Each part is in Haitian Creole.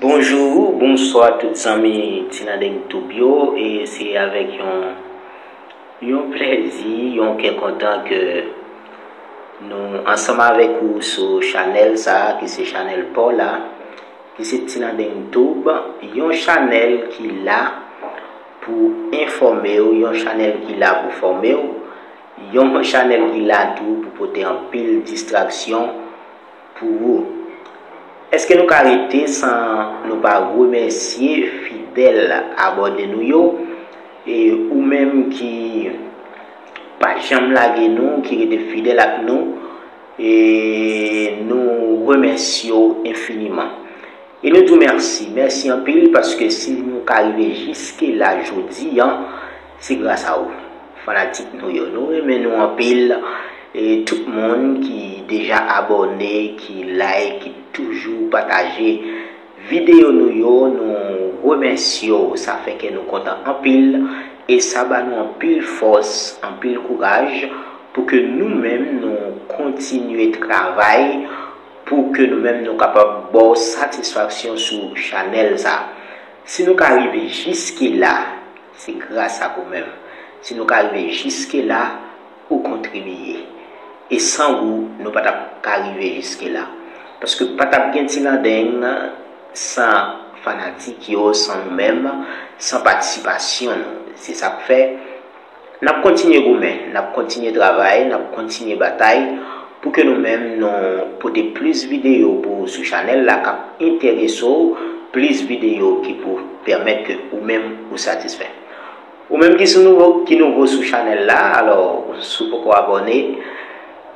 Bonjour ou bonswa tout zanmi tinadeng tube yo e se avèk yon yon plèzi yon kè kontan ke nou ansanm avèk ou sou chanèl sa ki se chanèl paw la ki se tinadeng tube yon chanèl ki la pou enfòmew yon chanèl ki la pou fòmew yon chanèl ki la tou pou pote anpil distraksyon pou ou. Eske nou ka rete san nou pa remèsye fidèl abòne nou yo e ou menm ki pa janm lage nou, ki rete fidèl ak nou e nou remèsye w enfiniman. E nou di w mèsi, mèsi anpil paske si nou ka rive jiske la jodi an, Se gras a ou fanatik nou yo. Nou renmen nou anpil e tout moun ki deja abòne, ki like, ki toujou pataje videyo nou yo, nou remèsye w sa fè kè nou kontan anpil e sa ba nou anpil fòs, anpil kouraj pou ke nou menm nou kontinye travay pou ke nou menm nou kapab ba w satisfaksyon sou chanèl sa. Si nou ka rive jiskila. Se gras ak ou menm si nou ka rive jiske la, ou kontribiye. E san ou nou pa tap ka rive jiske la. Paske pa tap gen Ti Landeng san fanatik yo, san nou menm, san patisipasyon nou. Se sak fè nap kontinye goumen, nap kontinye travay, nap kontinye batay. Pou ke nou menm nou pote plis videyo pou ou sou chanèl la kap entereso ou, plis videyo ki pou pèmèt ke ou menm ou satisfè. Ou menm ki sou nouvo ki nouvo sou chanèl la alò si ou poko abòne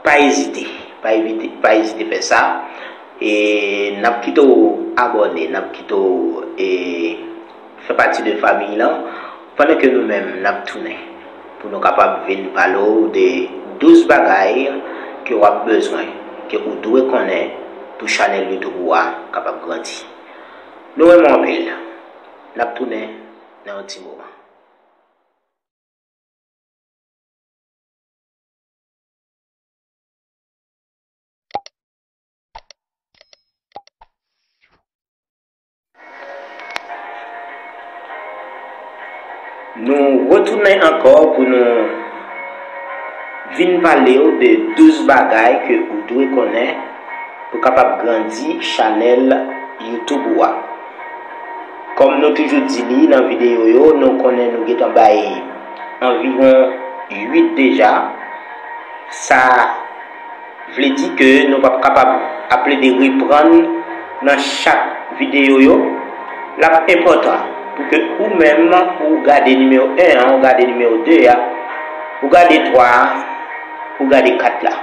pa ezite pa evite pa ezite fè sa e nap kite ou abòne nap kite ou e Fè pati de famiy lan pandan ke nou menm n ap tounen pou nou kapab vin pale w de 12 bagay ke w ap bezwen, ke ou dwe konnen pou chanèl youtube ou a kapab grandi. Nou renmen w anpil. N ap tounen nan yon ti moman. Nou retounen ankò pou nou vin pale w de 12 bagay ke ou dwe konnen pou kapab grandi chanèl YouTube ou a. Kòm nou toujou di li nan videyo yo, nou konnen nou gentan bay anviwon 8 deja. Sa. Vle di ke nou pap kapab ap plede reprann nan chak videyo yo. Lap enpòtan pou ke ou menm ou gade nimewo 1 an, ou gade nimewo 2 a, ou gade 3 a, ou gade 4 la.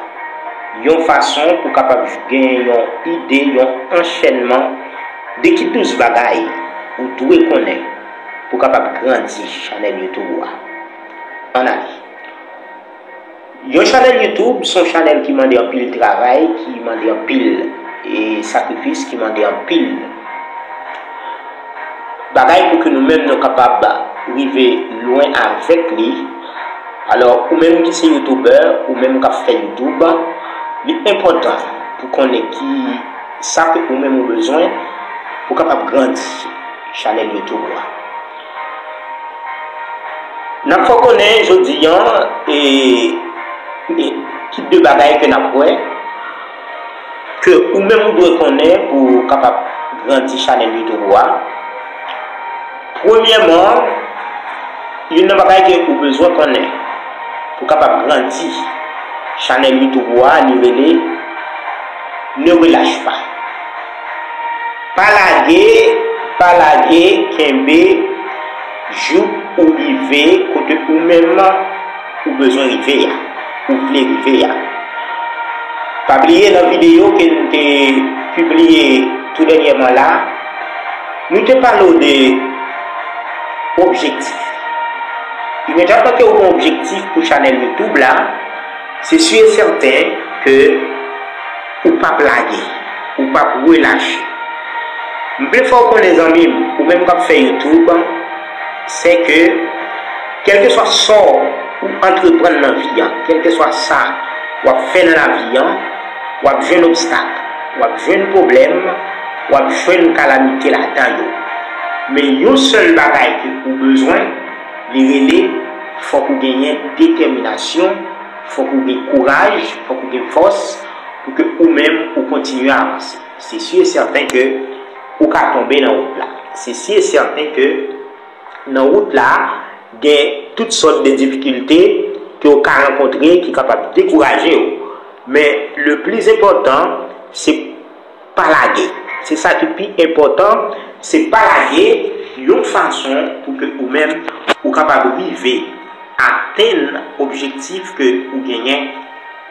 Yon fason pou kapab gen yon ide, yon anchènman de ki 12 bagay ou dwe konnen pou kapab grandi chanèl YouTube ou a. An ale! Yon chanèl YouTube son chanèl ki mande anpil travay, ki mande anpil e sakrifis, ki mande anpil bagay pou ke nou menm nou kapab rive lwen avèk li. Alò ou menm ki se YouTuber, ou menm kap fè YouTube, li enpòtan pou konnen ki sa ke ou menm ou bezwen pou kapab grandi chanèl YouTube ou a. N ap fè w konnen jodi an e tip de bagay ke n ap wè, ke ou menm ou dwe konnen pou w kapab grandi chanèl youtube ou a. Premyèman, youn nan bagay ke ou bezwen konnen pou w kapab grandi chanèl youtube ou a li rele Ne relâche pas. Pa lage, pa lage, kenbe jouk ou rive kote ou menm ou bezwen rive a, ou vle rive a. Pa bliye nan videyo ke nou te pibliye tou dènyèman la, nou te pale w de objektif. Imedyatman ke ou gen objektif pou chanèl YouTube la, se si e sèten ke. Ou pap lage. Ou pap relache. M vle fè w konnen zanmi m, ou menm k ap fè YouTube, sè ke kèlkeswa sa w antreprann nan vi an, kèlkeswa sa w ap fè nan lavi an, w ap jwenn obstak, w ap jwenn pwoblèm, w ap jwenn kalamite ladan yo. Men yon sèl bagay ke ou bezwen, li rele fòk ou genyen detèminasyon, Fòk ou gen kouraj, fòk ou gen fòs pou ke ou menm ou kontinye avanse. Se si e sèten ke ou ka tonbe nan wout la. Se si e sèten ke nan wout la gen tout sòt de difikilte ke ou ka rankontre ki kapab dekouraje ou. Men le pli zenpòtan se. Pa lage. Se sa ki pi enpòtan, se pa lage yon fason pou ke ou menm ou kapab rive atenn objektif ke ou genyen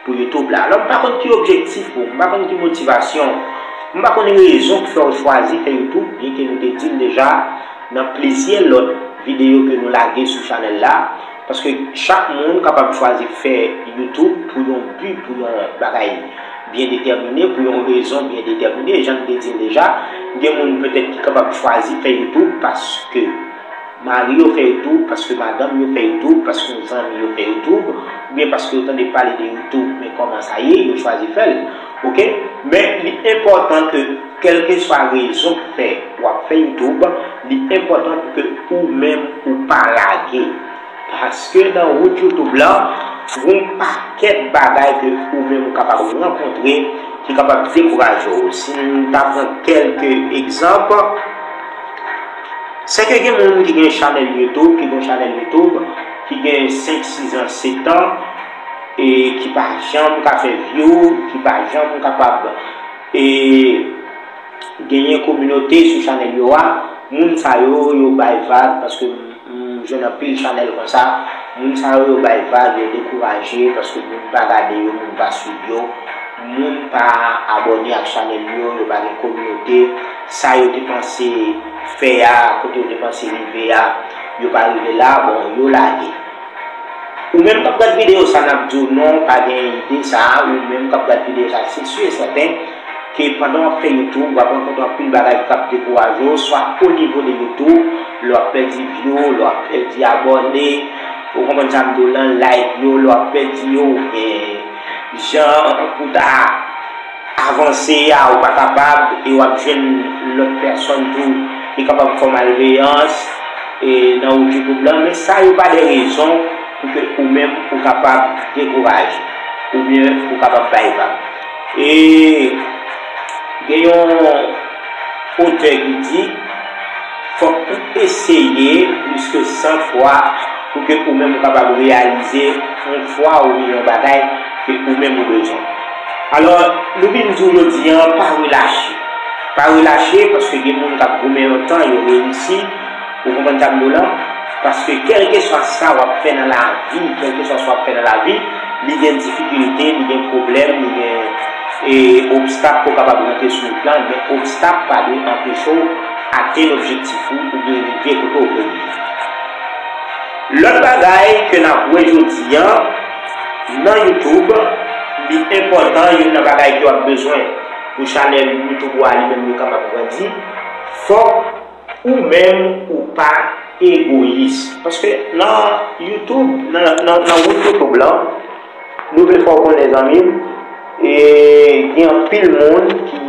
pou YouTube la. Alò m pa konn ki objektif ou, m pa konn ki motivasyon ou, m pa konn rezon ki fè ou chwazi fè YouTube, byen ke nou te di l deja nan plizyè lòt videyo ke nou lage sou chanèl la, Paske chak moun kapab chwazi fè YouTube pou yon bi, pou yon bagay byen detèmine, pou yon rezon byen detèmine. Jan m te di l deja, gen moun petèt ki kapab chwazi fè YouTube paske mari yo fè YouTube, paske madanm yo fè YouTube, paske yon zanmi yo fè YouTube, oubyen paske yo tande pale de YouTube men kòman sa ye, yo chwazi fè l. Ok men li enpòtan ke kèlkeswa rezon ki fè wap fè youtube li enpòtan pou ke ou menm ou pa lage paske nan wout youtube lan gon pakèt bagay ke ou menm ou kapab rankontre ki kapab dekouraje w si m ta pran kèlke egzanp se ke gen moun ki gen chanèl youtube ki gen 5 6 ans 7 ans e ki pa janm ka fè view, ki pa janm kapab e genyen kominote sou chanèl yo a, moun sa yo, yo bay vag paske m jwenn anpil chanèl konsa, moun sa yo yo bay vag, yo dekouraje paske moun pa gade yo, moun pa swiv yo, moun pa abòne ak chanèl yo, yo pa gen kominote, sa yo te panse fè a, kote yo te panse rive a, yo pa rive la, bon yo lage. Ou menm kap gad video sa nap diw non pa gen ide sa ou menm kap gad video sa se su e sèten ke pandan wap fè youtube wap rankontre anpil bagay ki kap dekourajew swa o nivo de youtube lè wap pèdi view lè wap pèdi abòne ou konprann sam diw lan like yo lè wap pèdi yo oubyen jan pou ta. Avanse a ou pa kapab e w ap jwenn lòt pèsonn tou ki kapab fè w malveyans e nan wout Djoukout lan men sa yo pa de rezon pou ke ou menm ou kapab dekouraje oubyen ou kapab bay vag e gen yon Otè ki di, Fòk ou eseye plis ke san fwa pou ke ou menm ou kapab reyalize yon fwa ou gen yon bagay ke ou menm ou bezwen. Alò, nou vin di w jodi an, pa relache. Pa relache paske gen moun k ap goumen yon tan, yo reyisi. Ou konprann sa m di w la? Paske kèlkeswa sa w ap fè nan lavi, kèlkeswa sa w ap fè nan lavi, li gen difikilte, li gen pwoblèm, li gen e obstak ke w kapab rantre sou wout lan, men obstak pa dwe anpeche w atenn objektif ou oubyen rive kote w vle rive. Lòt bagay ke n ap wè jodi an nan YouTube, li enpòtan, youn nan bagay ke w ap bezwen pou chanèl YouTube ou a li menm li kapab grandi, fòk. Ou menm ou pa egoyis. Paske nan youtube nan wout youtube lan nou vle fè w konnen zanmim gen anpil moun ki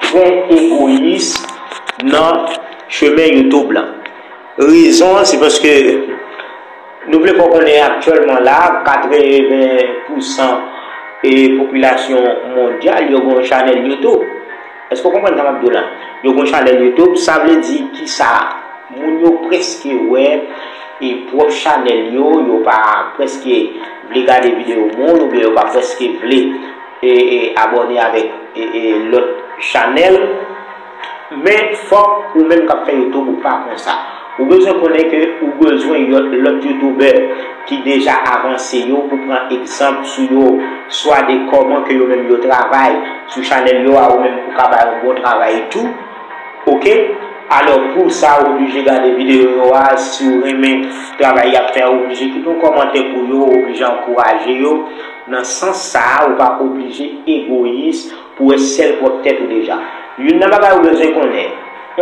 trè egoyis nan chemen youtube lan rezon an se paske nou vle fè w konnen aktyèlman la 80 pousan popilasyon mondyal yo gen yon chanèl youtube Eske w konprann sa map di w la? Yo gon chanèl YouTube, sa vle di kisa? Moun yo preske wè e pwòp chanèl yo, yo pa preske vle gade videyo moun oubyen yo pa preske vle e e abòne avèk e e lòt chanèl, men fòk ou menm kap fè YouTube ou pa konsa. Ou bezwen konnen ke ou bezwen yon lòt youtubè ki deja avanse yo pou pran egzanp sou yo swa de kòman ke yo menm yo travay sou chanèl yo a ou menm pou ka bay yon bon travay tou ok alò pou sa ou oblije gade videyo yo a si ou renmen travay yap fè a ou oblije kite yon kòmantè pou yo ou oblije ankouraje yo nan sans sa a ou pa oblije egoyis Pou wè sèl pwòp tèt ou deja. Youn nan bagay ou bezwen konnen,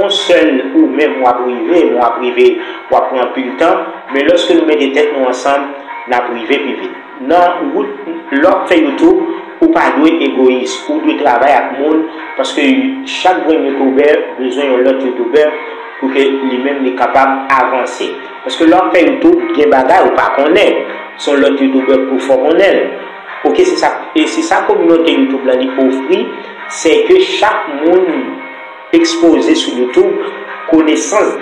on sèl ou menm wap rive, men wap rive wap pran anpil tan, men lòske nou mete tèt nou ansanm nap rive pi vit. Nan wout lè wap fè YouTube ou pa dwe egoyis, ou dwe travay ak moun paske chak grenn youtubè bezwen yon lòt youtubè pou ke li menm li kapab avanse. Paske lè wap fè YouTube gen bagay ou pa konnen, son lòt youtubè pou fò konnenl. Ok se sa e se sa kominote youtube lan li ofri se ke chak moun ekspoze sou youtube konesans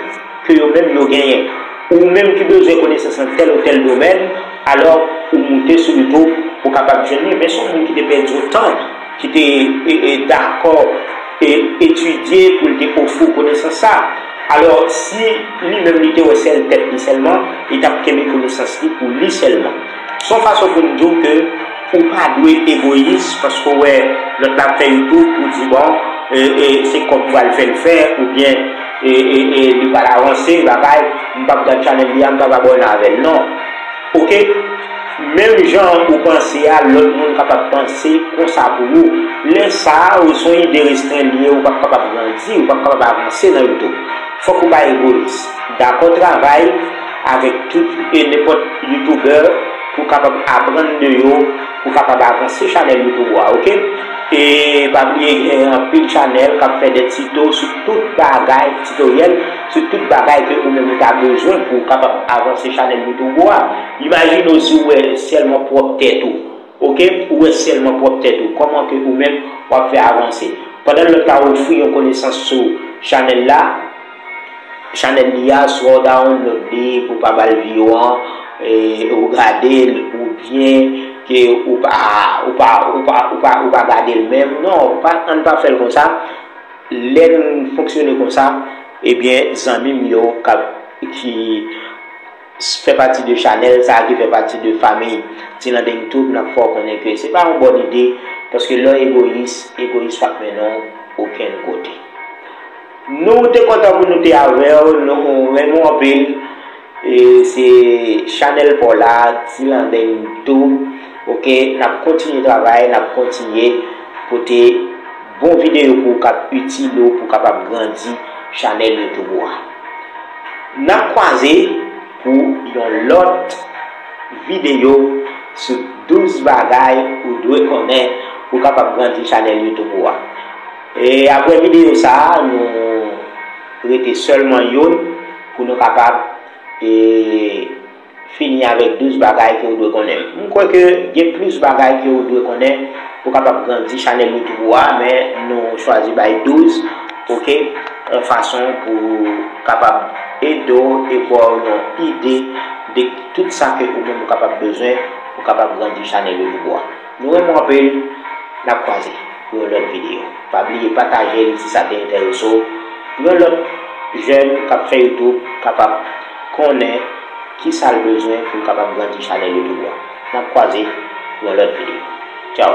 ke yo menm yo genyen ou menm ki bezwen konesans nan tèl ou tèl domèn alò ou moute sou youtube ou kapab jwenn li men son moun ki te pèdi otan ki te dakò e etidye pou l te ofri w konesans sa alò si li menm li te wè sèl tèt li sèlman li tap kenbe konesans li pou li sèlman. Se yon fason pou m di w ke ou pa dwe egoyis paske ou wè lòt la ap fè yon twoup, ou di bon se kòb pou al fè l fè oubyen li pral avanse yon bagay, m pap gad chanèl li a, m pap abòne avè l non ok. Menm jan ou panse a lòt moun kapab panse konsa pou ou. Lè sa ou se yon ide restren li ye ou pap kapab grandi, ou pap kapab avanse nan youtube. Fòk ou pa egoyis. Dakò travay avèk tout e nenpòt youtuber pou kapab aprann de yo pou kapab avanse chanèl youtube ou a ok e pa bliye gen anpil chanèl kap fè de tito sou tout bagay titoryèl sou tout bagay ke ou menm ou ta bezwen pou kapab avanse chanèl youtube ou a imajine w si w wè sèlman pwòp tèt ou Ok ou wè sèlman pwòp tèt ou kòman ke ou menm wap fè avanse pandan lòt la ofri yon konesans sou chanèl la chanèl li a swa dawon lòd li pou pa bal vi yo an ou gadel ou byen ke ou pa ou pa ou pa ou pa ou pa gadel menm non pa ann pa fèl konsa lè nou fonksyone konsa ebyen zanmim yo kap ki. fè pati de chanèl sa ki fè pati de famiy tilandeng tou nap fè w konnen ke se pa yon bòn ide paske lè w egoyis egoyis pap mennen w okenn kote nou te kontan pou nou te avè w nou renmen w anpil se chanèl paw la tilandeng tou ok nap kontinye travay nap kontinye pote bon videyo pou w kap itil ou pou w kapab grandi chanèl youtube ou a Nap kwaze pou yon lòt videyo sou 12 bagay ou dwe konnen pou kapab grandi chanèl youtube ou a. E aprè videyo sa nou rete sèlman youn pou nou kapab e. Fini avèk 12 bagay ke ou dwe konnen. M kwè ke gen plis bagay ke ou dwe konnen pou kapab grandi chanèl youtube ou a, men nou chwazi bay 12 ok yon fason pou kapab ede w e ba w yon ide de tout sa ke ou menm ou kapab bezwen pou kapab grandi chanèl youtube ou a. Nou renmen w anpil nap kwaze pou yon lòt video pa bliye pataje l si sa te enterese w pou yon lòt jèn kap fè youtube kapab konnen kisa l bezwen pou l kapab grandi chanèl youtube an nap kwaze pou yon lòt video tchao.